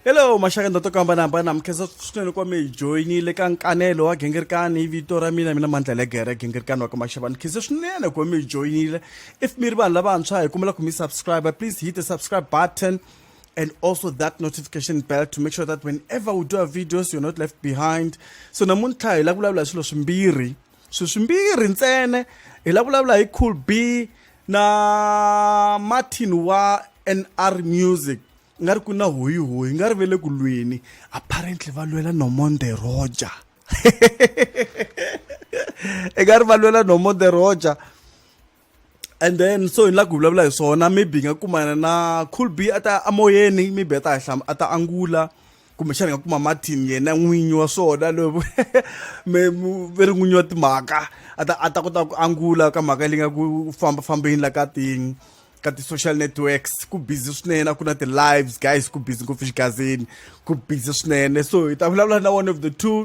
hello maxaka ndo to ku hambanahambana mukhensa swinene kwa mi joyinile ka nkanelo wa gingirikani hi vito ra mina mina mandla le gere gingirikani wa ka maxava ni khense swinene ku mi joyinile if mi ri vanhu lavantshwa hi kumela ku mi subscribe please hit the subscribe button and also that notification bell to make sure that whenever we do our videos you're not left behind so namuntlha hi la ku vulavula hi swilo swimbirhi swilo swimbirhi ntsena hi la vulavula hi cool b na martin wa nr music nga ri ku na hoyi hoyi nga ri ve le ku lweni apparently va lwela nomonde roger i nga ri va lwela nomonde roger and then so hi la ku vulavula hi swona maybe hi nga kumana na cool b a ta amoyeni maybe a ta a ta angula kumbexana hi nga kuma martin yena n'winyi wa swona lovo ve ri n'winyi wa timhaka a ta a ta kota ku angula ka mhaka leyi nga ku famba fambeni la ka ti ka ti-social networks ku busy swinene a ku na ti-lives guys ku busy ngopfu xigazini ku busy swinene so hi ta vulavula na one of the two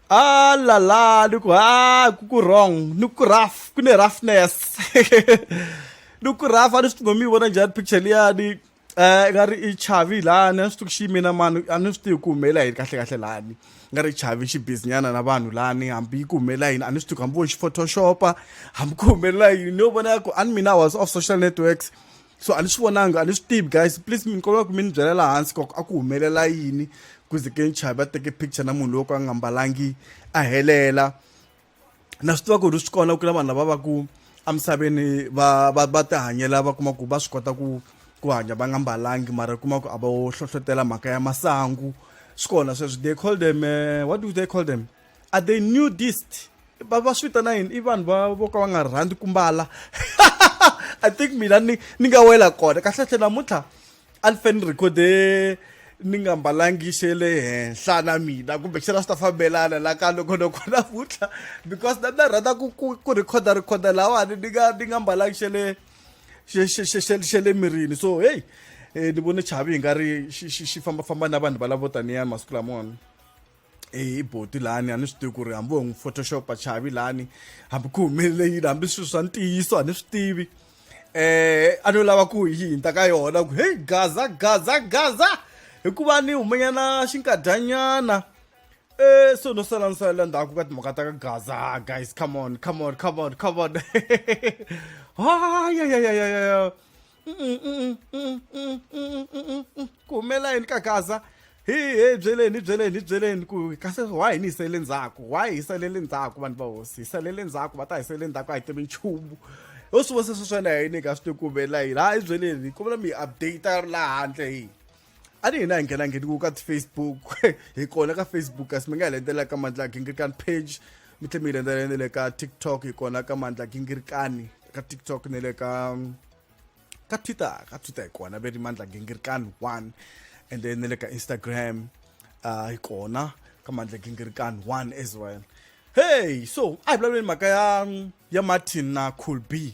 Ah la la, no ah, kukurong, no kuraf, kune roughness. no kuraf, a ni swi tivi mi vona njhani picture liya ni eh nga ri i chavi lani a ni swi tivi ku xi yimina mani a ni swi tivi ku humelela yini kahle kahle lani nga ri chavi xi businyana na vanhu lani hambi yi ku humelela yini a ni swi tivi ku hambi vo xi photoshopa hambi ku humelela yini ni yo vona ku a ni mina was off social networks so a ni swi vonanga a ni swi tivi guys please mi kombela ku mi ni byela laha hansi koko a ku humelela yini ku ze ke nchavi va teke picture na munhu loyi ka a nga mbalangi a helela na swi tiva ku ri swi kona ku na vanhu lava va ku emisaveni va va va ti hanyela va kuma ku va swi kota ku ku hanya va nga mbalangi mara kuma ku a va hlohlotela mhaka ya masangu swi kona sweswo they call them uh, what do they call them are they nudist va va swi vitana yini i vanhu va vo ka va nga rhandzi ku mbala i think mina ni ni nga wela kona kahlekahle namuntlha a ni fe ni rekhode ni nga mbalangi xe le henhla na mina kumbe xana swi ta fambelana la ka loko loko namuntlha because na mina rhandza ku ku ku rhikhoda rhikhoda lawani ni nga ni nga mbalangi xe le xe xe xe xe xe le mirini so heyi um ni vone chavi hi nga ri xi xi xi fambafamba na vanhu valavo taniyani masiku lamona hi boti lani a ni swi tivi ku ri hambi ho n'wi photoshopa chavi lani hambi ku humelele yini hambi swilo swa ntiyiso a ni swi tivi eh a no lava ku yi hinta ka yona ku hey gaza gaza gaza hikuva ni humanyana xinkadyanyana eh so no sala ni salela ndzhaku ka timhaka ta ka gaza ah, guys come on come on come on come on ha ya ya ya ya ya ku humela yini ka gaza hi he byeleni hi byeleni hi byeleni ku kasi why hi ni hisele ndzhaku why hi salele ndzhaku vanhu va hosi hi salele ndzhaku va ta hi sele ndzhaku a hi tivi nchumu ho swi vona sweswo swona hi ni ka swi tikumela yini ha hi byeleni hi kombela mi hi update laha handle hi a ni hina hi nghena ngheni ku ka ti-facebook hi kona ka facebook kasi mi nga hi lendela ka mandla gingirikani page mi tlhe mi hi lendela ne le ka tiktok hi kona ka mandla gingirikani ka tiktok ne le ka ka twitter ka twitter hi kona ve ri mandla gingirikani one and then ne le ka instagram uh, hi kona ka mandla gingirikani one as well hey so a hi vulavuleni mhaka ya ya martin na cool b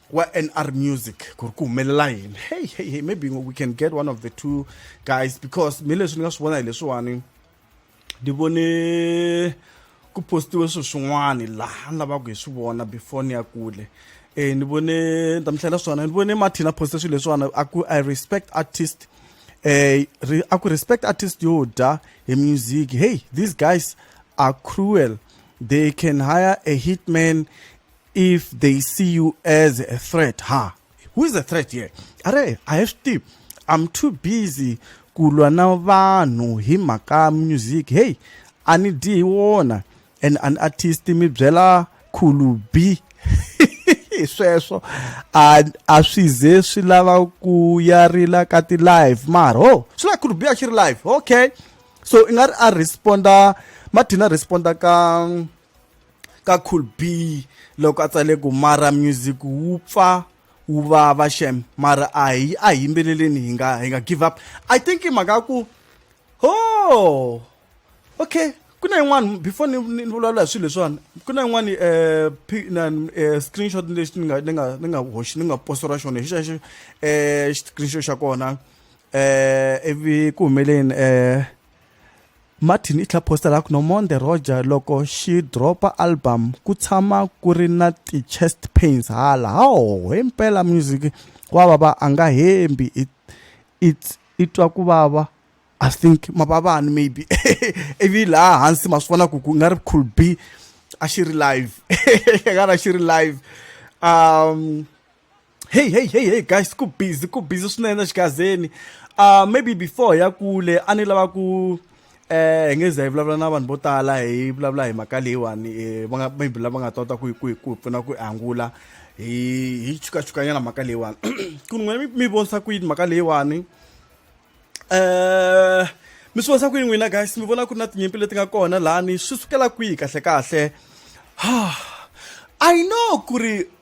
wa NR Music ku ri ku humelela yini hey hey hey maybe we can get one of the two guys because mi leswi ni nga swi vona hi leswiwani ni vone ku postiwe swilo swin'wana laha ni lavaka hi swi vona before ni ya kule eh ni vone ni ta mi hlayela swona ni vone martin a poste swilo leswiwana a ku i respect artist eh a ku respect artist yo dya hi music hey these guys are cruel they can hire a hitman if they see you as a threat ha who is a threat here are i have to i'm too busy kulwa na vanhu hi mhaka music hey a ni dyi hi wona and an artist mi byela khulu b sweswo a a swi ze swi lava ku ya rila ka ti live mara ho oh, swi la khulu b a xi ri live okay so i nga ri a responda mathina responda ka ka cool B loko a tsale ku mara music wu pfa wu vava shem mara a hi a hi yimbeleleni hi nga hi nga give up i think i mhaka ku ho oh, okay ku na yin'wana before ni ni vulavula hi swilo leswiwani ku na yin'wana um um screenshot lexi ni nga ni nga ni nga hoxi ni nga posora xona hi xexo um screenshot xa kona um ivi ku humeleni um Martin i tlha posta la ku no mon the roger loko xi dropa album ku tshama ku ri na ti-chest pains hala hawo hi mpela music wa vava a nga hembi it, it, i twa ku vava i think mavavani maybe ivi laha hansi ma swi vona ku ku nga ri cool b a xi ri live nga ri a xi ri live um hey hey hey hey guys ku busy ku busy swinene xigazeni uh maybe before ya kule a ni lava ku eh hi nge za hi vulavula na vanhu vo tala hi vulavula hi mhaka leyiwani eh, va nga maybe lava nga tota ku ku ku pfuna ku angula hi hi chukachukanyana mhaka leyiwani ku n'wina mi mi vonisa ku yini mhaka leyiwani eh mi swi vonisa ku yini n'wina guys mi vona ku ri na tinyimpi leti nga kona lani swi sukela kwihi kahle kahle i know ku ri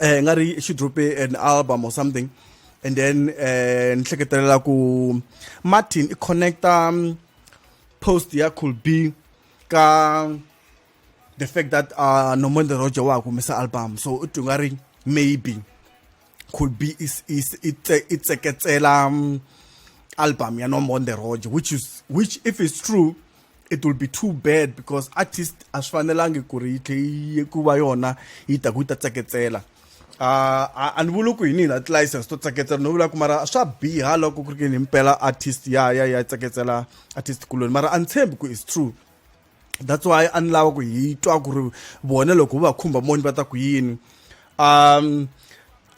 eh nga ri xi drope an album or something and then eh ni hleketelela ku Martin i connecta um, post ya could be ka the fact that uh Nomanda Roger wa kumisa album so u twa nga ri maybe could be is is itseketsela um, album ya Nomanda Roger which is which if it's true it will be too bad because artist a swi fanelangi ku ri yi tlhe yi ku va yona yi ta ku yi ta tseketsela uh, a ni vuli ku hi ni na ti-license to tseketsela no vula ku mara swa biha loko ku ri kini himpela artist ya ya ya tseketsela artist kuloni mara a ni tshembi ku is true that's why a ni lava ku hi twa ku ri vona loko va khumba moni va ta ku yini um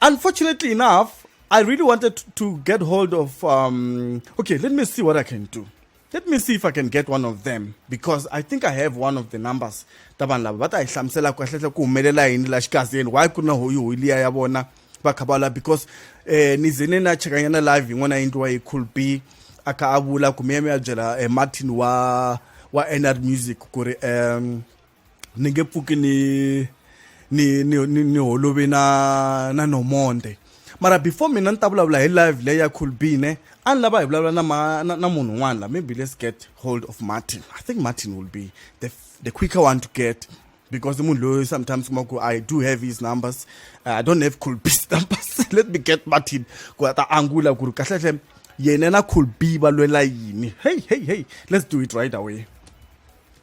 unfortunately enough i really wanted to get hold of um okay let me see what i can do Let me see if I can get one of them because I think I have one of the numbers ta vanhu lava va ta hi hlamusela ku kahlekahle ku humelela yini la xikazeni why ku ri na hoyihoyi liya ya vona va kha va la because um ni ze ni na chekanyana live yin'wana yi endliwa hi cool b a kha a vula kumbe ya mi ya byela um martin wa wa nr music ku ri um ni nge pfuki ni ni ni ni, ni holovi na na nomonde mara before mina ni ta vulavula hi live leyi ya colbine a ni lava hi vulavula na, ma, na, na munhu un'wana la maybe let's get hold of martin i think martin will be the, the quicker one to get because munhu loyi sometimes kuma ku i do have his numbers uh, i don't have colbis numbers let me get martin ku a ta angula ku ri kahlehle yena na colbi va lwela yini hey hey hey let's do it right away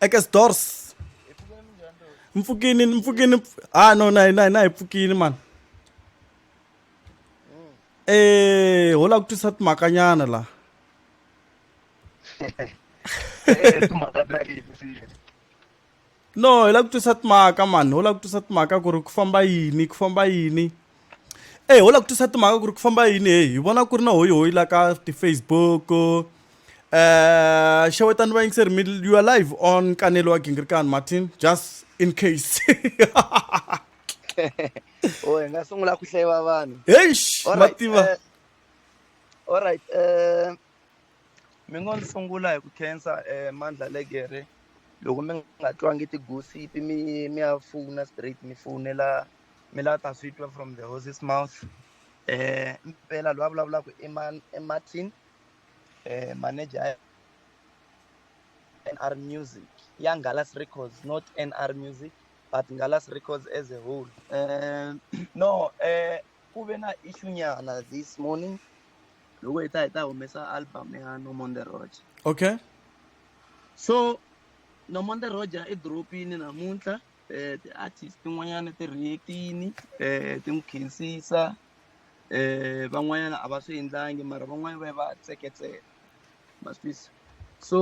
eka stores mpfukini mpfukini ha ah, no na na na hi pfukini mani eh ho la ku twisa timakanyana la no hi la ku twisa timaka mani ho la ku twisa timaka ku ri ku famba yini ku famba yini eyi ho la ku twisa timhaka ku ri ku famba yini heyi hi vona ku ri na hoyihoyi la ka ti-facebook um eh, xewetani vayingiseri mi you are live on kanelo wa gingirikani martin just in case o hi nga sungula ku hleva vanhu heish va tiva eh, allright um eh, mi ngo ni sungula hi ku khensa um mandla legere loko mi nga twangi tigusipi mi mi ya fona straight mi fonela mi lava ta swi twa from the horses mouth eh mpela loyi a vulavulaka i man i martin eh manager nr music ya ngalas records not nr music but ngalas records as a whole eh no eh ku ve na issue nyana this morning loko hi ta hi ta humesa album ya no on the road okay so no on the road i dropini namuntlha um ti-artist tin'wanyana ti react-ini um ti n'wi khensisa um van'wanyana a va swi endlangi mara van'wani va ye va tseketsela ma swi twisa so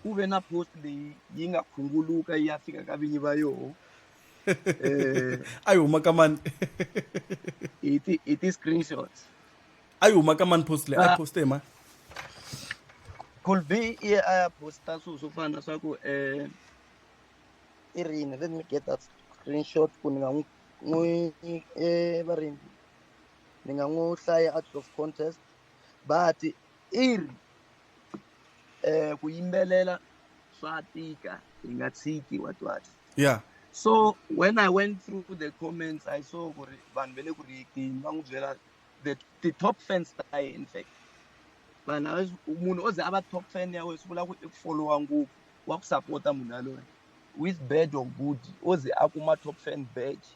ku ve na post leyi yi nga khunguluka yi ya fika ka vinyi va yoho um a yi huma ka mani hi ti hi ti-screenshots a yi huma ka mani post leyi a yi poste hi mani could be i ye a ya posta swilo swo fana na swa ku um i rini let me get that screenshot ku ni nga n'wi n'wi eh, va rini ni nga n'wi hlaya out of contest but i ri eh ku yimbelela swa tika hi nga tshiki wa twati yeah so when i went through the comments i saw ku ri vanhu ve le ku riyekeni va n'wi byela the the top fans ta ye in fact vanhu munhu o ze a va top fan ya wena swi vula ku i followa ngopfu wa ku sapota munhu yaloye with badge or good o ze a kuma top fan badge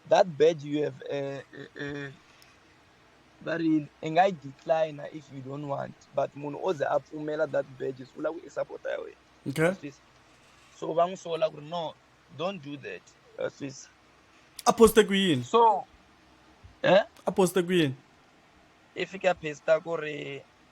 that badge you have uh, uh, uh, va ri i nga yi decline if you don't want but munhu o ze a pfumela that badge swi vula ku i sapota ya wena okay. so va n'wi sola ku ri no don't do that sisa a poste ku yini so eh? a poste ku yini i fika posta ku ri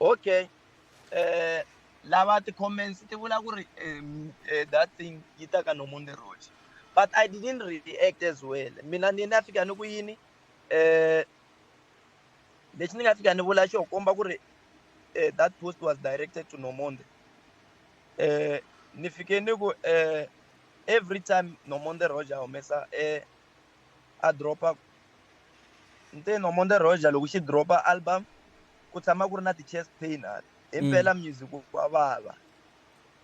okay eh lava ti-comments ti vula ku ri um, eh, that thing yi ta ka nomu ni roxa but i didn't react as well mina ni na fika ni ku yini um lexi ni nga fika ni vula xo komba ku ri um that post was directed to nomonde um ni fike ni ku um every time nomonde roger humesa um a drop-a nteni omonde roger loko xi drop-a album ku tshama ku ri na ti-chest pain a hi mm. mpela music wa vava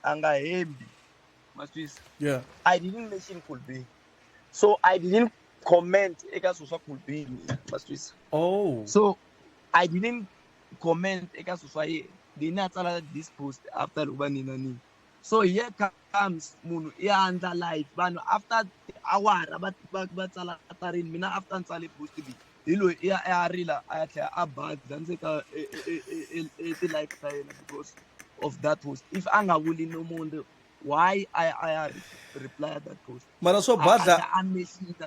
a nga hembi ma swisa yeah i didn't mention cool be so i didn't comment eka swilo swa cool be mina ma swisa oh so i didn't comment eka swilo swa yena then a tsala this post after loko va nina nini so here comes munhu i andla life vanhu after awara va va va tsala tarini mina after ni tsale boost bi hi loyi i ya a rila a ya tlhela a badza ndzi ka e, e, e, ti-life ta yena because of that post if a nga vuli no munhu why a ya a ya replya that post mara swo badla a mexita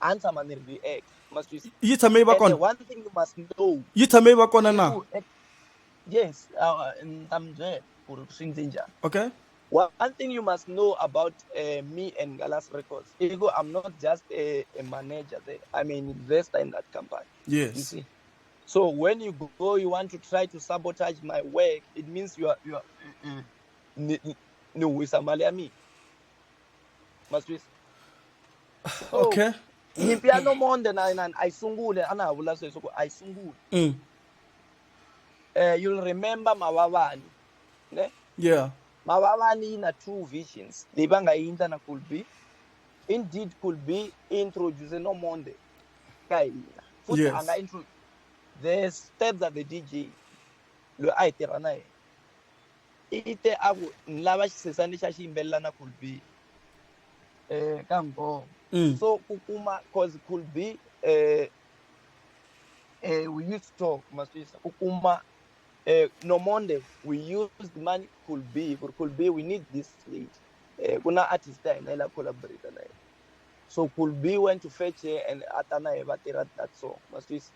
a ni tshama ni react ma swi twisisa yi tshame yi va and kona one thing you must know yi tshame yi va kona i na ku eh, yes uh, ni ta mi byela ku ri swi ndze njhani okay one thing you must know about uh, me and Galas Records i ku I'm not just a, a manager there I'm an investor in that company you yes see so when you go you want to try to sabotage my work it means you are you are mm, mm, ni ni- ni wisa mali ya mina maswisi so, okay nyimpi ya no more than nine a yi sungule a na ha vula sweswi ku a yi sungule mm. uh, you'll remember mavavani ne yeah mavavani yi na two visions leyi va nga yi endla na could be indeed could be introduce no monde ka hina futhi yes. a nga introduce the steps that the dj loyi a hi tirha na yena i te a ku ni lava xisesa lexi a xi yimbelela na cool b um ka ngoma mm. so ku kuma cause cool b um eh, eh, we used to talk maswisa ku kuma um no monde we used money cool b ku ri cool b we need this lady um ku na artist ya hina yi la collaborate na yena so cool b went to fetch her and a ta na ye va tirha that song maswisa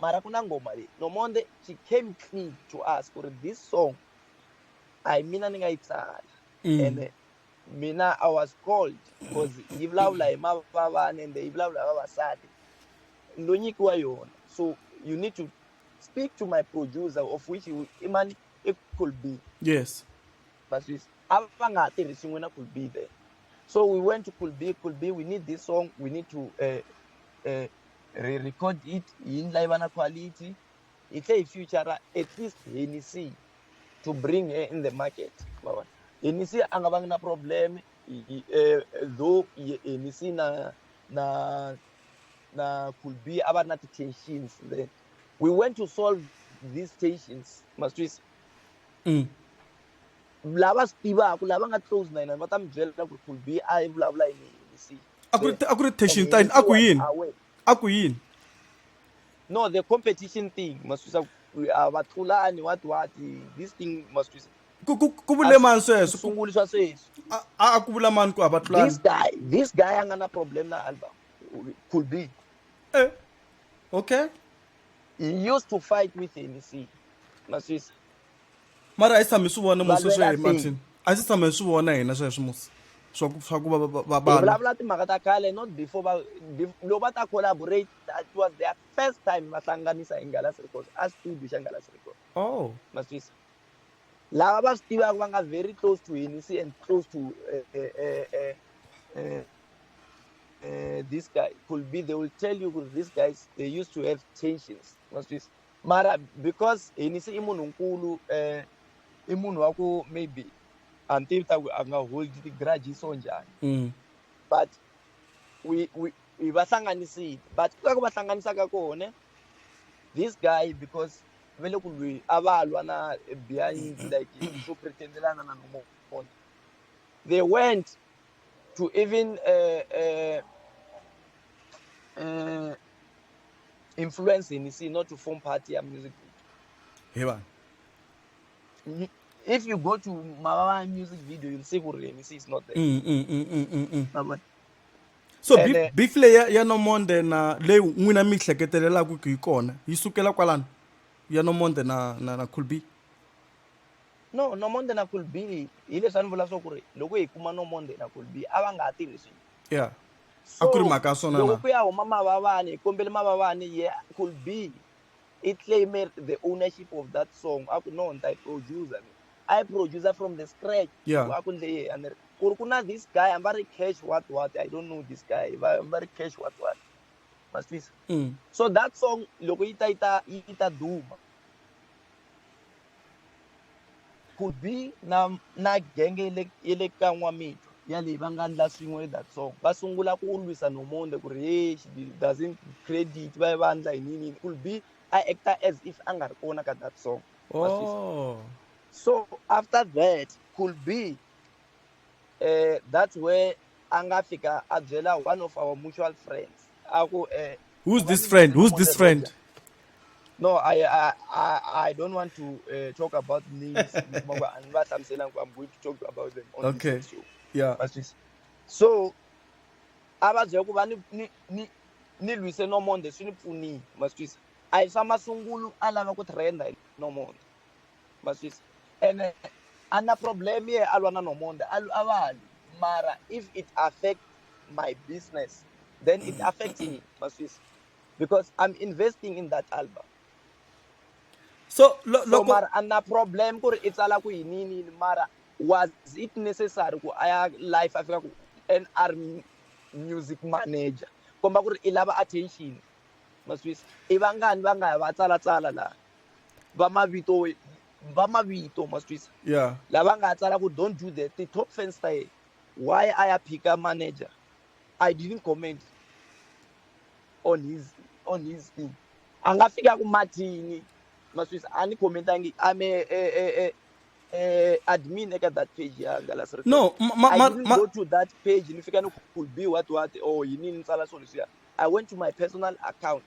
mara ku na ngoma leyi nomonde she came clean to us ku ri this song a hi mina ni nga yi tsala mm. ene mina i was called because yi vulavula hi mavavana ende yi vulavula hi vavasati ndo nyikiwa yona so you need to speak to my producer of which i mani i could be yes vaswisi a va nga ha tirhisi n'wina could be there so we went to could be could be we need this song we need to uh, uh, re record it yi ndla yi va na quality yi tlhe yi future at least Hennessy to bring her in the market ma vona Hennessy a nga vangi na problem eh, though Hennessy na na na could be a va ri na ti-tensions then we went to solve these tensions maswisa mm. lava swi tivaka lava nga close na yena va ta mi byela ku could be a yi vulavula yini Hennessy a ku ri a ku ri tension time a ku yini a ku yini no the competition thing maswisa uh, va tlulani what what this thing maswisa ku ku ku vule mani sweswo sunguli swa sweswi a a ku vula mani ku a va tlulani this guy this guy a nga na problem na alba could be eh okay he used to fight with NEC maswisa mara a yi tshami swi vona musi sweswo hi martin a yi si tshama hi swi vona hina sweswo musi swa ku swa ku va va vulavula timhaka ta khale not before va loko va ta collaborate that was their first time va hlanganisa hi ngalasi records a studio xa ngalasi records oh ma swisa lava va swi tivaka va nga very close to hini si and close to uh, uh, uh, uh, uh, this guy could be they will tell you this guys they used to have tensions ma swisa mara because hinisi i munhu nkulu um eh, i munhu wa ku maybe a ni tivi ta ku a nga hold ti-grudges so njhani mm. but we, we, we va hlanganisile but ku ka ku va hlanganisaka kona this guy because ve le ku lwi a va lwa na behind like swo pretendelana na nomona they went to even uh, uh, uh, influence ni see not to form party ya music he vanhu if you go to mavava music video you'll see kuri ni see is not there mm, mm, mm, mm, mm, mm. Mabona? so And, uh, beef leyi ya- ya nomonde na leyi n'wina mi yi hleketelelaka ku yi kona yi sukela kwalano ya nomonde na na na cool b no nomonde na kulbi hileswi a ni vula swa ku ri loko hi kuma nomonde na kulbi a va nga ha tirhisi yeah a ku ri mhaka swona loko ku ya huma mavavani hi kombele mavavani ye could be i claimer the ownership of that song a ku no ni ta yi producer ni a yi producer from the scratch a ku ndle yehe a ni ri ku ri ku na this guy hamba ri cash what what i don't know this guy hamba ri cash what what ma swi twisa mm. so that song loko yi ta yi ta yi ta duma could be na na genge ye le ye le ka n'wamitwa yaleyi va nga ndla swin'we that song va sungula ku lwisa nomonde ku ri hey she doesn't credit va va ndla hi nini could be a actor as if a nga ri kona ka that song oh. so after that could be eh that's where a nga fika a byela one of our mutual friends a ku eh Who's this friend? Who's this friend? No, I I I, I don't want to uh, talk about names. I'm going to talk about them. On okay. This show. Yeah. But this. So, abazwe kuba ni ni ni nilwise nomonde swi ni pfunile maswisa a hi swa masungulu a lava ku trenda hi nomonde ma swisa ene a na problem ye a lwa na nomonde a a va lwi mara if it affect my business then it affects me ma swisa because i'm investing in that album so lo- so loko mara a na problem ku ri i tsala ku yini yini yini mara was it necessary ku a ya life a fika ku nr music manager komba ku ri i lava attention ma swisa i vangani va nga ya va tsalatsala laha va mavito va mavito ma swi twisa yeah. lava nga tsala ku don't do that ti-top fans ta yena why a ya phika manager i didn't comment on his on his thing a nga fika ku mathini ma swi twisa a ni commentangi ame e, e, e, eh, admin eka that page ya Hangalasa Records. No, ma, I ma, didn't ma, go to that page. Nifika no could be what what or oh, yini ni tsala so leswiya. I went to my personal account.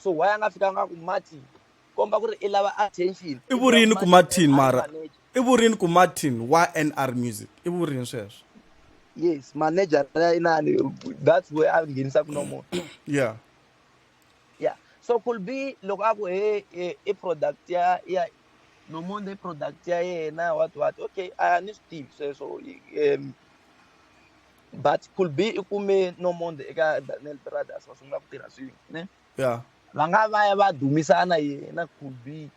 so why a nga fikanga ku martin komba ku ri i lava attention i vurini ku martin mara i vurini ku martin wa nr music i vurini sweswo yes manager ya inani that's where a nghenisa ku nomona yeah yeah so could be loko a ku he i product ya ya nomonde product ya yena what what okay a ni swi tivi sweswo um but could be i kume nomonde eka daniel brothers va sungula ku tirha swin'we ne ya va nga va ya va dumisana yena could be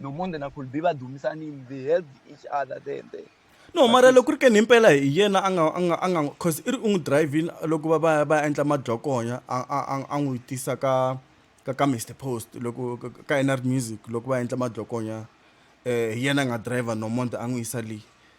nomonde na could be va dumisanile they help each other then then no mara loko ri ke ni impela hi yena a nga a nga a nga cause i ri u n'wi drivini loko va va va endla madyokonya a a a n'wi tisa ka ka ka mr post loko ka nr music loko va endla madyokonya um hi yena a nga driver nomonde a n'wi yisa leyi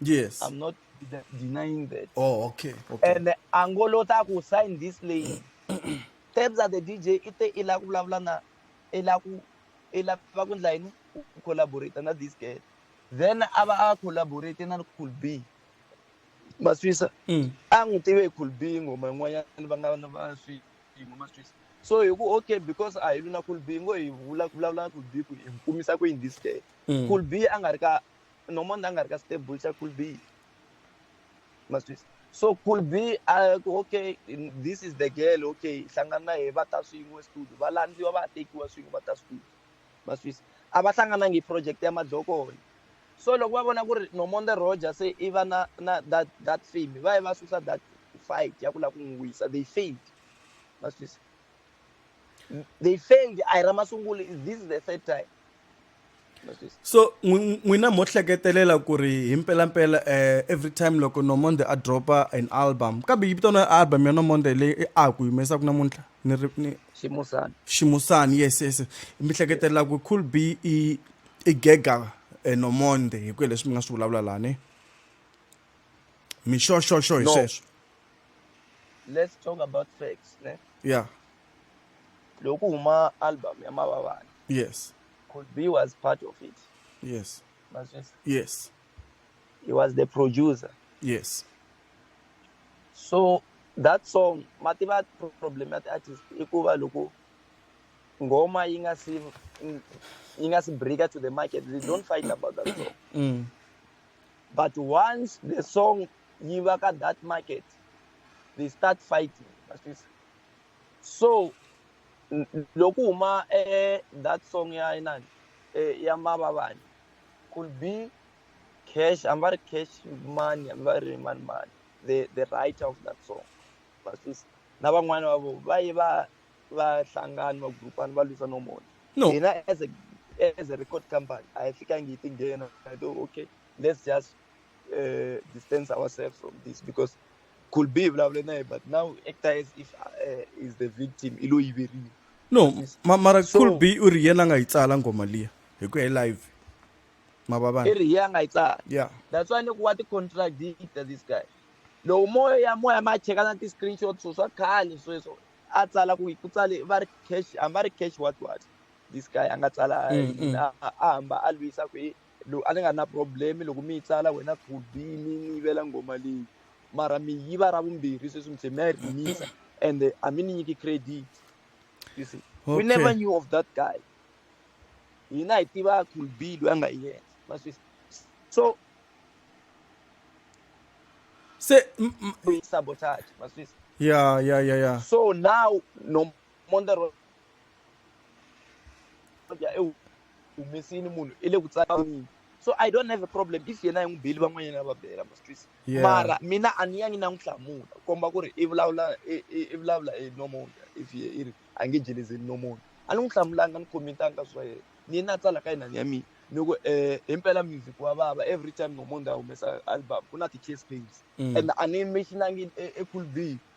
Yes. I'm not de- denying that. Oh, okay. okay. And Angolo ta ku sign this lady. Terms of the DJ ite ila ku vulavula na ila ku ila va ku ndla yini ku collaborate na this girl. Then ava a collaborate na Cool B. Maswisa. Mm. A n'wi tive Cool B ngoma yin'wanyana va nga va swi ngoma Maswisa. So hi ku okay because a hi luna Cool B ngo hi vula ku vulavula na Cool B ku hi kumisa ku in this girl. Mm. Cool B a nga ri ka normal na nga ri ka stable xa cool b ma swi so cool b a ku okay this is the girl okay hlangana na yena va ta swin'we studio va landziwa va tekiwa swin'we va ta studio ma swi a va hlanganangi project ya madlokolo so loko va vona ku ri nomonde roger se i va na na that that fame va ye va susa that fight ya ku lava ku n'wi wisa they failed ma swi they failed a hi ra masungulo this is the third time so n'wina mo hleketelela ku ri hi mpelampela um every time loko nomonde a dropa an album kambe yi vitana album ya nomonde leyi i a ku humesaka namuntlha ni ri ni ximusani ximusani yes yes mi hleketelela ku cool b i i gega eh, nomonde hi ku hi leswi mi nga swi vulavula lani mixoxoxo hi sweswo let's talk about facts ne yeah loko huma album ya mavavani yes could be was part of it yes mazvisa yes he was the producer yes so that song mativa problem ya ti-artist i ku va loko ngoma yi nga si yi nga si breaker to the market they don't fight about that song mm. but once the song yi va ka that market they start fighting so loku huma eh, that song ya inani eh, ya mavavani could be cash hamba ri cash money hamba ri mani mani the, the writer of that song vasisi na van'wana va vo va ye va va hlangani va grupani va lwisa nomona no hina as a as a record company a hi fikangi hi tinghena to okay let's just uh, distance ourselves from this because could be blah blah blah. But now actor is if uh, is the victim. Ilo iberile. No, ma mara so, could be u ri yena nga yi tsala ngoma liya hi ku ya live. Mababana. I ri yena nga yi tsala. Yeah. That's why ni ku wa ti contradict this guy. Loko moya moya ma cheka na ti screenshots swa khale sweswo a tsala ku ku tsale va ri cash a va ri cash what what this guy a nga tsala mm, mm. a hamba a lwisa ku yini lowu a ni nga na problem loko mi yi tsala wena khubi mi ni yivela ngoma leyi mara mi yiva ra vumbirhi sweswi mi tlhe mi ya yi rhimisa ende a mi ni nyiki credit you see okay. we never knew of that guy hina hi tiva cool b loyi a nga yena maswisi so se sabotage maswisi yeah yeah yeah yeah so now no mondar ya e humesini munhu i le ku tsakanini so i don't have a problem if yena hi n'wi beli van'wanyana va bela ma swi twisa mara mina a ni yangi na n'wi hlamula ku komba ku ri i vulavula i vulavula hi nomona if ye i ri a nge jelezeli nomona a ni n'wi hlamulanga ni khomentanga swa yena ni na tsalaka yinani ya mina ni ku um himpela music wa vava every time nomona a humesa album ku na ti-case pains mm. and a ni mentionangi ecool e b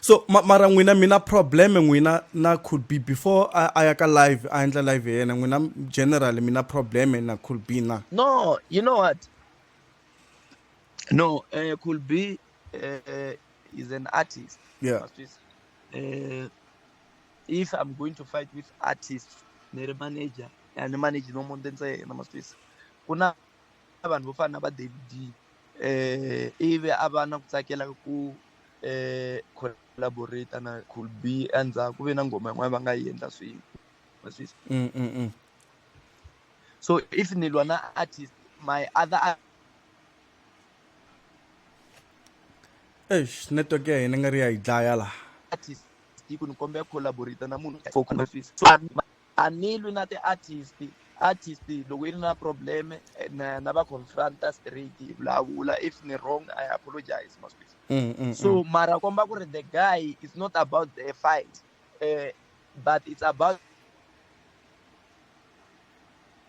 so ma, mara n'wina mina problem n'wina na could be before a ya ka live a endla live ya yena n'wina general mina problem na could be na no you know what no uh, eh, could be uh, eh, eh, is an artist yeah uh, if i'm going to fight with artist ne ri manager and manage no munhu ntsena maswisa ku na vanhu vo fana na va david ivi a va na ku tsakela ku collaborate na cool b endzhaku ku ve na nghoma yin'wana va nga yi endla swin'we wa swi mm, mm, mm. so if ni lwa na artist my other eish network ya hina nga ri ya yi dlaya laha artist yi ku ni kombela collaborate na munhu for so a ni lwi na ti-artist artist loko yi ri na problem eh, na, na va confronta straight hi vulavula if ni wrong i apologize maswisi mm, mm, so mm. mara komba ku ri the guy is not about the fight uh, but it's about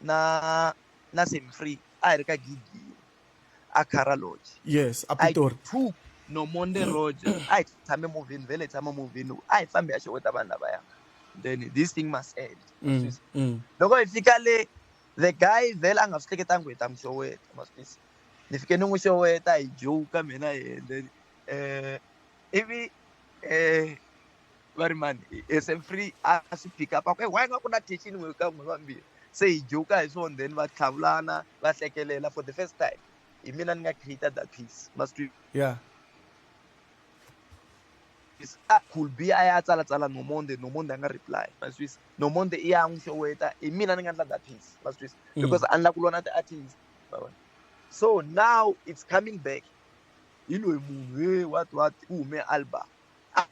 na na semfree a hi ri ka gigi a cara lodge yes a pitori two no monde road a hi tshame movini vele hi tshama movini a hi fambi ya xeweta vanhu lavaya then this thing must end mm, mm. loko hi fika le the guy vele a nga swi hleketangi ku hi ta n'wi xeweta maswisa ni fike ni n'wi xeweta hi joka mina yena then um ivi um vari mani as a free asi pick up ako why nga ku na tension n'we ka n'we vambirhi se hi joka hi swona then va tlhavulana va hlekelela for the first time hi mina ni nga creator that piece must yeah ah, cool b a ya tsalatsala nomonde nomonde a nga reply maswisa nomonde i ya n'wi xoweta hi mina ni nga endla that piece maswisa mm. because a ni la ku lona ti-artist so now it's coming back hi loyi munhu he what what u hume album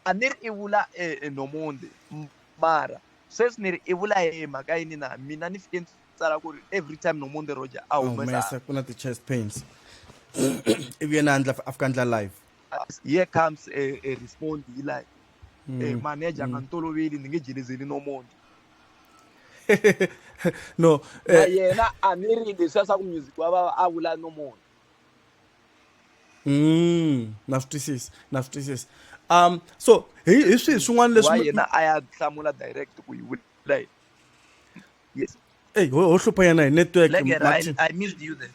a ni ri i vula enomondhi e, mara sweswi ni ri i vula hi mhaka yini na mina ni fike ni tsala ku ri every time nomondhi roger a humesa ku na ti-chest pains ivi yena andla a fika ndla live here comes a, a respond hi live mm. e, manager nga mm. ni toloveli ni nge jelezeli nomondhi no eh. yena a ni ri leswiya swa ku music wa vava a vula nomondhi Mm, na swi twisisa na swi twisisa um so hi hi swihi swin'wana leswi yena a ya hlamula direct ku yi vula yes eyi ho hlupha yena hi network I missed you there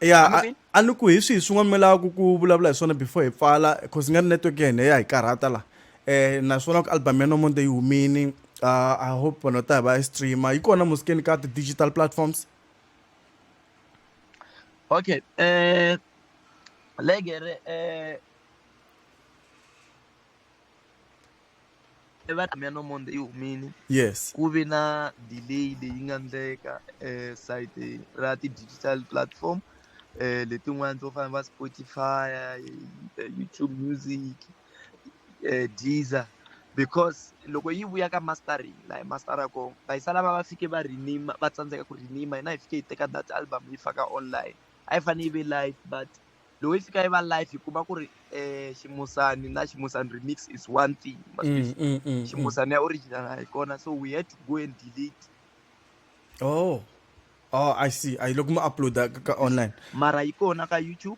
ya a ni ku hi swihi swin'wana mi lavaka ku vulavula hi swona before hi pfala cause nga ri network ya hina ya hi karhata laha um naswona ku album ya nomonde yi humini uh, i hope vanhu va ta hi va yi streama yi kona musikeni ka ti-digital platforms okay eh legere eh va mina no monde yi humile yes ku vi na delay leyi nga ndleka eh site ra ti digital platform eh letin'wana to fana va Spotify eh, YouTube music eh, diesel because loko yi vuya ka mastering la hi mastera ko va yi sala va va fike va renima va tsandzeka ku renima hina hi fike yi teka that album yi faka online a yi fanele yi ve live but loko yi fika yi va live hi kuma ku ri um ximusani na ximusani remix is one thing mm, mm, mm, ximusani ya original a hi kona so we had to go and delete oh oh i see a yi loko mi uploada ka online mara yi kona ka youtube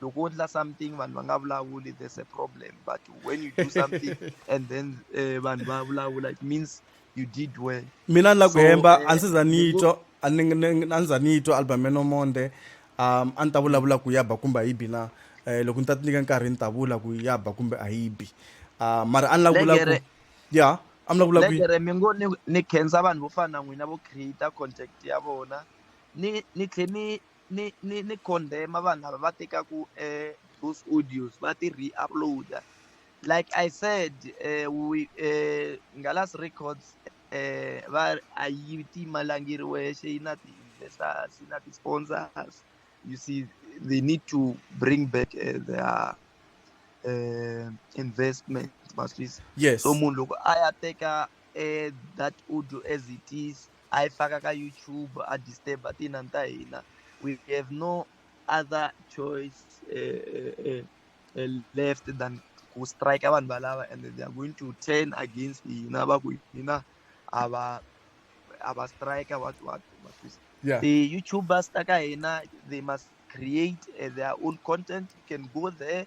loko wo endla something vanhu va nga vulavuli there's a problem but when you do something and then eh, vanhu va vulavula it means you did well mina ni la ku hemba eh, a ndzi za ni twa a ndzi za ni twa album ya nomonde um a ni ta vulavula ku ya ba kumbe a yi bi na um loko ni ta ti nyika nkarhi ni ta vula ku ya ba kumbe a yi bi um mara a ni la ku vula ku ya a mi la ku vula ku legere mi ngo ni khensa vanhu vo fana na n'wina vo create contact ya vona ni ni tlhe ni ni ni ni condemn vanhu lava va tekaku eh, those audios va ti re-uploada like i said eh, we, eh, ngalas records eh, va a yi timalangiriwe xe yi na ti-investors yi na ti-sponsors you see they need to bring back uh, their uh, investment yes so munhu loko a ya teka eh, that audio as it is a yi faka ka YouTube a disturb tinani ta hina we have no other choice uh, uh, uh, left than ku strike vanhu valava and they are going to turn against hina va ku hina a va a va strike what what what is yeah. the youtubers ta ka hina they must create uh, their own content you can go there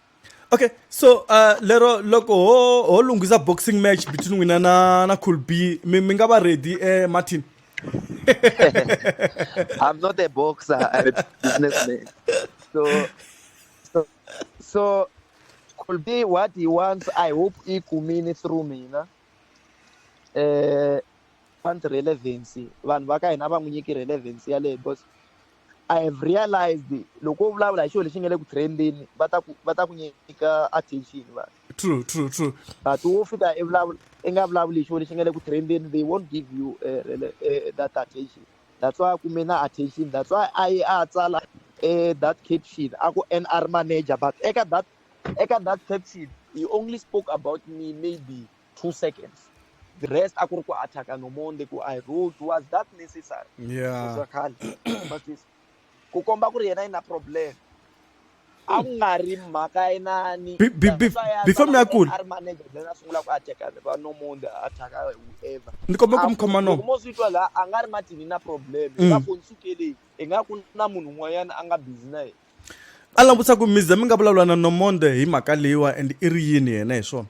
okay so uh, lero loko ho ho lunghisa boxing match between wena na na cool b mi mi nga va ready eh, martin i'm not a boxer i'm a businessman so so so cool b what he wants i hope i kumini through mina eh want relevancy vanhu va ka hina va n'wi nyiki relevancy yaleyo because i have realized loko u vulavula hi xilo lexi nga le ku trendeni va ta ku va ta ku nyika attention va true true true but wo fika i vulavula i nga vulavuli hi xilo lexi nga le ku trendeni they won't give you uh, uh, that attention that's why kume na attention that's why a yi a tsala uh, that caption a ku nr manager but eka that eka that caption he only spoke about me maybe two seconds the rest a ku ri ku attack no monde ku i road was that necessary yeah swa khale matwisa ku komba ku ri yena ina problem a ku nga ri mhaka inani before mi ya kula a ri manager then a sungula ku attack va no monde attack whoever ni komba ku mi khoma no mo swi twa la a nga ri matini na problem mm. va fonsukeleni i nga ku na munhu un'wanyana a nga busy na yena a langutisa ku mize mi nga vulavula na nomonde hi mhaka leyiwa and i ri yini yena hi swona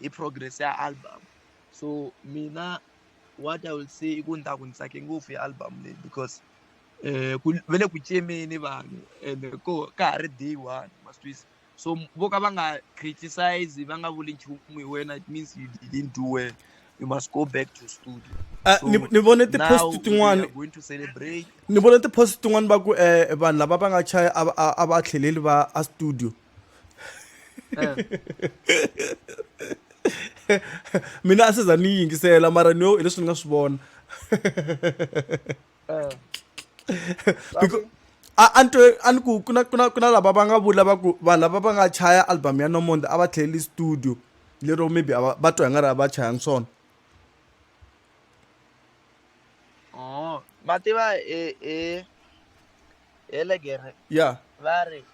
hi progress ya album so mina what i will say i ku ni ta ku ni tsake ngopfu hi album leyi because um ku ve le ku cemeni vanhu and ko ka ha ri day one mastwisa so vo ka va nga criticize va nga vuli nchumu hi wena it means you didn't do well you must go back to studio ah, so ni vone tipost tin'wana ni vone tipost tin'wana va ku um vanhu lava va nga chaya a va tlheleli va a studio mina a swi za ni yingisela mara ni yo hi leswi ni nga swi vona a ni twe a ni ku ku na ku na ku na lava va nga vula va ku vanhu lava va nga chaya album ya nomonde a va tlheleli studio lero maybe a va va twa hi nga ri a va chaya ni swona oh, va tiva hi hi hi legere ya va ri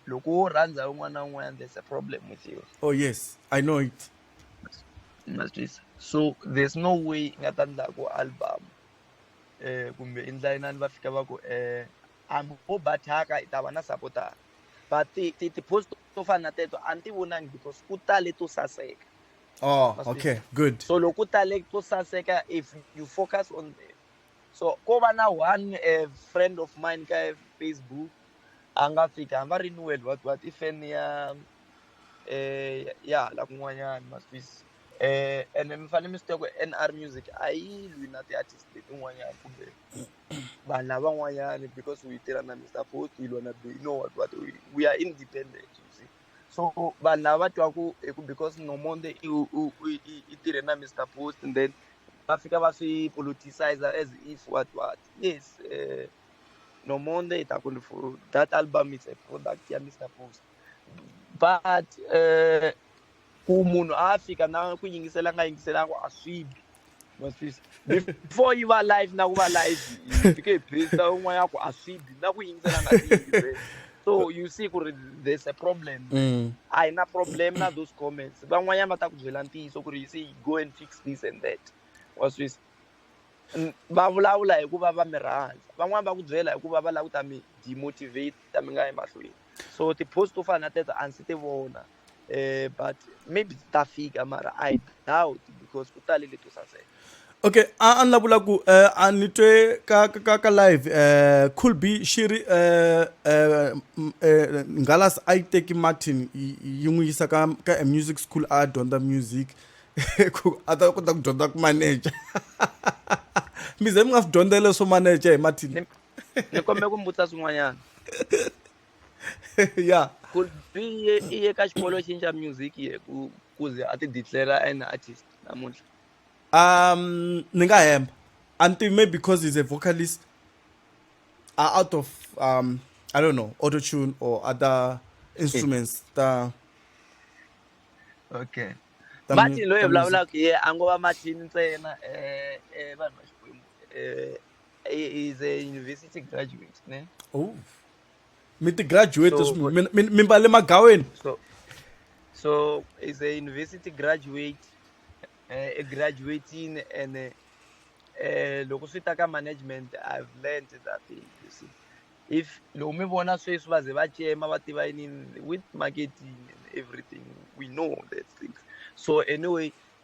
loko wo rhandza un'wana na un'wana there's a problem with you oh yes i know it ma twisisa so there's no way i nga ta ndla ku album eh kumbe i ndla inani va fika va ku eh am ho bathaka i ta va na sapotara but ti ti ti post to fana na teto a ni ti vonangi because ku tale to saseka oh okay good so loko ku tale to saseka if you focus on the so ko va na one a friend of mine ka facebook a nga fika hamba ri ni world what what i fan ya eh ya la kun'wanyana ma swiss eh ene mi fanele mi swi tiva ku nr music a yi lwi na ti-artist letin'wanyana kumbe vanhu lavan'wanyana because u yi tirha na mr fort yi lwa na be you know what what we are independent you see so vanhu lava va twaku hi ku because nomonde i tirhe na mr post and then va fika va swi politicizer as if what what yes uh, nomonde i ta ku that album is a product ya mr post but uh, ku munhu a fika na ku yingisela nga yingiselanga a swi bi maswisa before yi va live na ku va live yi fike hi phesa un'wana ya ku a swi bi na ku yingisela nga tiyive so you see ku ri there's a problem Mm. a hi na problem na those comments van'wanyana va ta ku byela ntiyiso ku ri you see go and fix this and that wa swisa N- va vulavula hikuva va mi rhandza van'wani va ku byela hikuva va lava ku ta mi demotivate ta mi nga emahlweni so ti-post to fana na teto a ndzi ti vona eh but maybe ta fika mara i doubt because ku tale leto saseka okay a ni la vula ku eh, a ni twe ka ka ka, ka live eh cool be shiri eh eh, mm, eh ngalas i take martin yi n'wi yisa ka ka a music school a dyondza music ku a ta kota ku dyondza ku manager mi ze mi nga swi dyondzele swo manager hi martin ni kombela ku mbutisa swin'wanyana ya could be iye iye ka xikolo xini xa music ye ku ku ze a ti declara an artist namuntlha um ni nga hemba a ni tivi maybe because he's a vocalist are out of um i don't know auto tune or other instruments ta okay ta mu- martin loyi ta hi music. vulavulaka hi yena a ngo va martin ntsena eh, eh, vanhu va xikwembu eh, he- he's a university graduate ne oh mi ti graduate so, mi, mi, mi mbale magaweni so, so is a university graduate uh, a graduating and uh, uh, loko swi ta ka management i've learned that thing you see if loko mi vona sweswi va ze va cema va tiva yinini with marketing and everything we know that things so anyway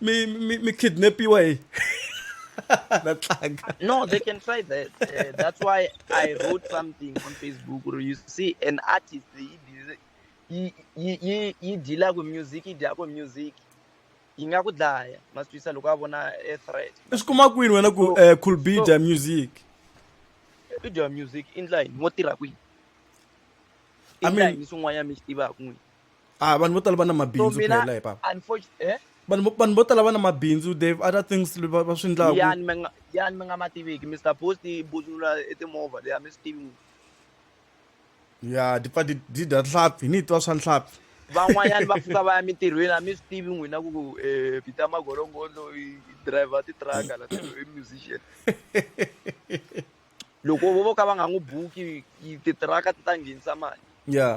mi mi mi kidnapiwa hi na tlanga no they can try that uh, that's why i wrote something on facebook or you see an artist yi yi yi deala ku music yi dya ku music yi nga ku dlaya masitwisa loko a vona a threat i swi kuma kwini wena ku eh, cool b dya music i dya music i ndla yini wo tirha kwini i ndla yini swin'wanyana mi swi tivaka n'wini ah vanhu vo tala va na mabindzu phela hi papa eh? vanhu vanhu vo tala va na mabindzu they've other things va va swi ndlaku yani mi nga yani mi nga ma tiviki mr post i buzula etimovha leya mi swi tivi ya ti pfa ti ti dya nhlampfi ni twa swa nhlampfi van'wanyana va pfuka va ya mintirhweni a mi swi tivi n'wina ku um eh, peter magolongondo i driver titraka la i musician loko vo vo ka va nga n'wi buki titiraka ti ta nghenisa mali ya yeah.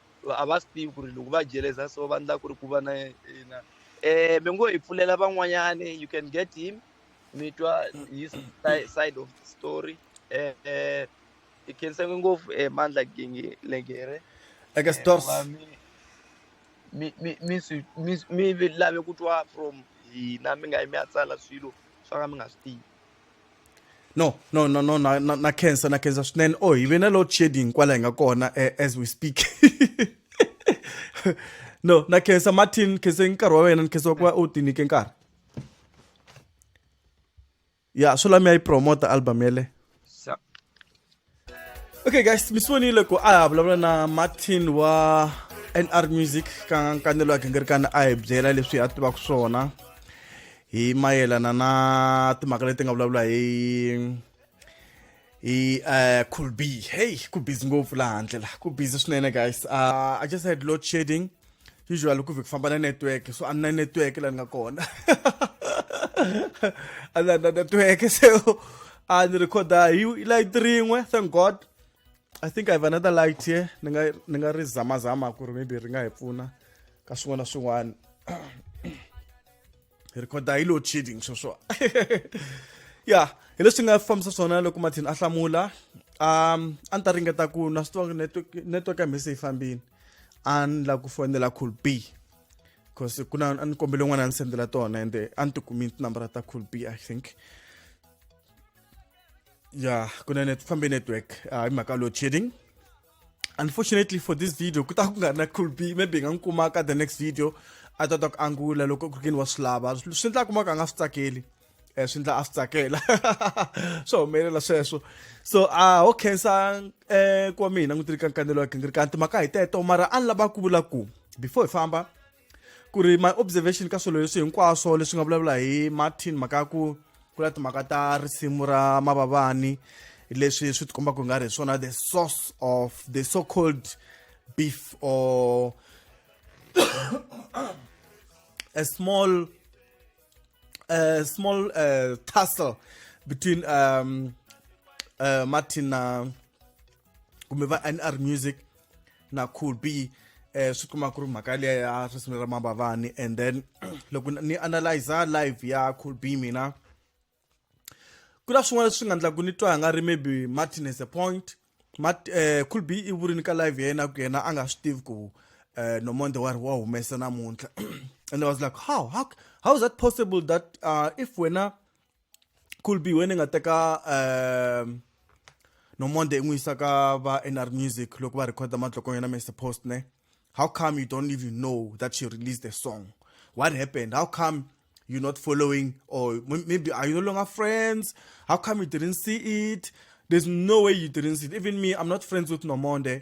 va- a va swi tivi ku ri loko va jeleza so va endla ku ri ku va na yena um mi ngo hi pfulela van'wanyani you can get him mi twa his si- side of the story um hi khenseke ngopfu um mandla Genge- legere eka Eh, stores wa mi mi mi mi swi- mi swi- mi vi- lave ku twa from hina mi nga yi mi ya tsala swilo swa ka mi nga swi tivi no no no no na na, na cancer na cancer swinene oh hi ve na load shedding kwala hi nga kona eh, as we speak no na cancer martin khensa nkarhi wa wena ni khensa wa ku va u tinike nkarhi ya swo lami ya yi promota album yele okay guys mi sonile ku a ha vulavula na martin wa nr music ka nkanelo ya gingirikana a hi byela leswi a tivaka swona hi mayelana na timhaka leti nga vulavula hi hi uh, cool b hey ku busy ngopfu laha handle la ku busy swinene guys uh, i just had load shedding usually ku vhiki famba na network so a ni na network la ni nga kona a ni na network so a ni recorda hi light rin'we thank god i think i have another light here ni nga ni nga ri zamazama ku ri maybe ri nga hi pfuna ka swin'wana na swin'wana hi rhikhoda hi load shedding sweswo ya hi leswi nga fambisa swona loko mathini a hlamula um a ni ta ringeta ku na swi tiva network network ya mhese yi fambini a ni la ku fonela cool b because ku na a ni kombele n'wana a ni sendela tona ende a ni tikumi tinambara ta cool b i think ya ku na net fambe network uh, hi mhaka load shedding unfortunately for this video ku ta ku nga na cool b maybe hi nga n'wi kuma ka the next video a ta ta ku angula loko ku ri kini wa swi lava swi endla kuma ka nga swi tsakeli um swi endla a swi tsakela swi humelela sweswo so a ho khensa um eh, ku wa mina n'wi tiri ka nkanelo wa gingirikani timhaka hi teto mara a ni lava ku vula ku before hi famba ku ri my observation ka swilo leswi hinkwaswo leswi nga vulavula hi martin mhaka ya ku ku na timhaka ta risimu ra mavavani leswi swi tikomba ku nga ri hi swona the source of the so called beef or a small a small uh, tussle between um, uh, martin na uh, kumbe va nr music na cool b eh swi kuma ku ri mhaka liya ya risimu ra mabavani and then loko ni analyza live ya cool b mina ku na swin'wana leswi nga ndlaku ni twa nga ri maybe martin has a point Mart, eh, cool b i vurini ka live ya yena ku yena a nga swi tivi ku eh, nomonde wa ri wa humesa namuntlha and i was like how, how, how is that possible that uh, if wena cool b wena ni nga teka um no monday n'wi yisa ka va nr music loko va recorda matlokong yena mr post ne how come you don't even know that she released the song what happened how come you're not following or maybe are you no longer friends how come you didn't see it there's no way you didn't see it even me i'm not friends with nomonde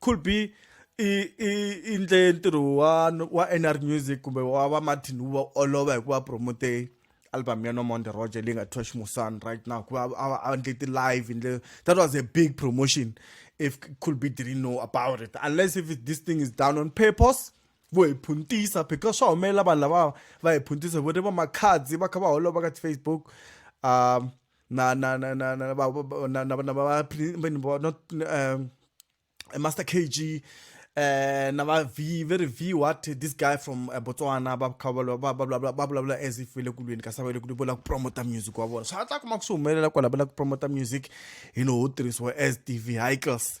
could be i i i ndle ntirho wa wa nr music kumbe wa va martin wu va olova hikuva promote album ya nomonde roger leyi nga thiwa ximusani right now hikuva a ndle ti-live hi ndle that was a big promotion if could be didn't know about it unless if this thing is done on purpose vo hi phuntisa because swa humelela vanhu lava va hi phuntisa vo ri va makhadzi va kha va holova ka ti-facebook um na na na na na ba ba- na na na ba Pli- mbeni bo- not um, eh, Master KG eh na ba V very V what this guy from eh, Botswana ba kha ba ba ba ba ba bula bula as if le kulweni ka sabele kulweni bola ku promote music wa bona so a ta kuma ku swi humelela kwala bola ku promote music you know ho tirhisiwa as TV hikers